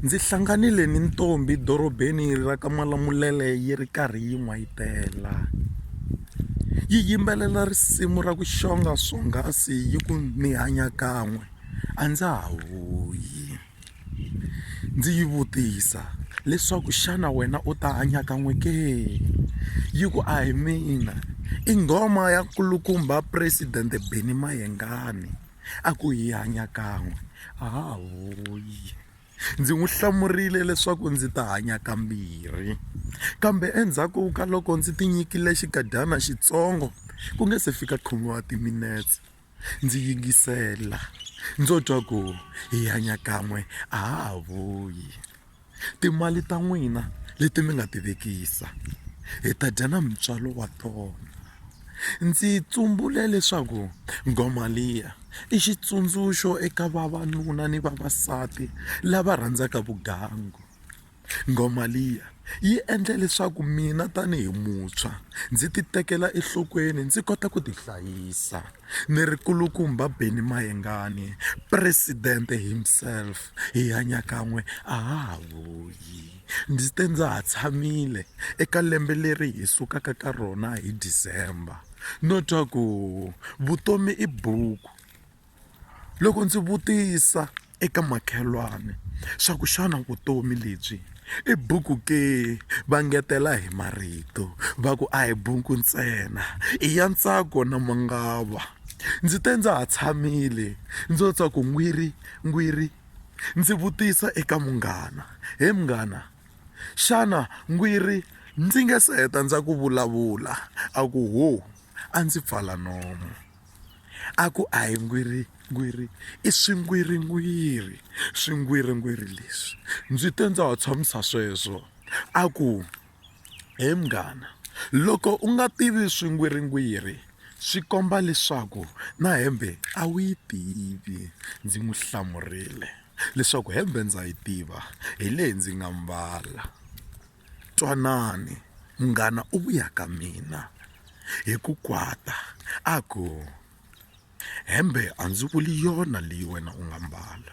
Ndzi hlanganile ni ntombhi dorobeni ra ka Malamulele yi ri karhi yi n'wayitela. Yi yimbelela risimu ra ku xonga swonghasi yi ku ni hanya kan'we a ndza ha vuyi. Ndzi yi vutisa leswaku xana wena u ta hanya kan'we ke? Yi ku a hi mina i nghoma ya nkulukumba president Benny Mayengani. a ku hi hanya kan'we hahoyi ndzi n'wi hlamurile leswaku ndzi ta hanya kambirhi kambe endzhaku ka loko ndzi tinyikile xikadyana xitsongo ku nge se fika khume wa timinetse ndzi yingisela ndzo twa ku hi hanya kan'we hahoyi Timali ta n'wina leti mi nga ti vekisa hi ta dya na mutswalo wa tona. Ndzi tsumbule leswaku nghoma liya i xitsundzuxo eka vavanuna ni vavasati lava rhandzaka vugangu. Nghoma liya yi endle leswaku mina tanihi muntshwa ndzi ti tekela enhlokweni ndzi kota ku ti hlayisa. Ni ri nkulukumba Benny Mayengani president himself hi hanya kan'we a ha ha vuyi ndzi te ndza ha tshamile eka lembe leri hi sukaka ka rona hi December no twa ku vutomi i buku loko ndzi vutisa. eka makhelwani swa ku xana vutomi lebyi i buku ke va ngetela hi marito va ku a hi buku ntsena i ya ntsako na mangava ndzi te ndza ha tshamile ndzo twa ku n'wiri n'wiri ndzi vutisa eka munghana he munghana xana n'wiri ndzi nge se heta ndza ku vulavula a ku ho a ndzi pfala nomu. a ku a hi ngwiringwiri i swingwiringwiri swingwiringwiri leswi ndzi te ndza wa tshamisa sweswo a ku he munghana loko u nga tivi swingwiringwiri swi komba leswaku na hembe a wu yi tivi ndzi n'wi hlamurile leswaku hembe ndza yi tiva hi leyi ndzi nga mbala. Twanani, munghana u vuya ka mina hi ku kwata a ku, Hembe a ndzi vuli yona leyi wena u nga mbala.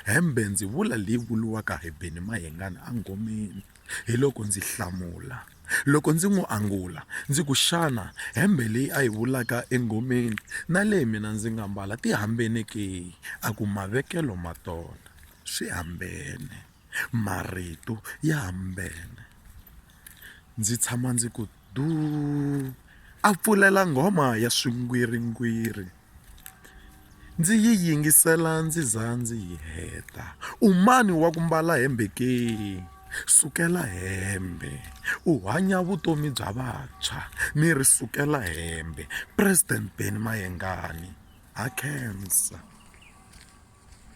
Hembe ndzi vula leyi vuriwaka hi Benny Mayengani engomeni. Hiloko ndzi hlamula. Loko ndzi n'wi angula ndzi ku, Xana hembe leyi a yi vulaka engomeni na leyi mina ndzi nga mbala ti hambene ke? A ku, Mavekelo ma tona swi hambene. Marito ya hambene. Ndzi tshama ndzi ku duu, a pfulela nghoma ya swigwiringwiri. Ndzi yi yingisela ndzi za ndzi yi heta. U mani wa ku mbala hembe ke? Sukela hembe u hanya vutomi bya vantshwa ni ri sukela hembe president Benny Mayengani ha khensa.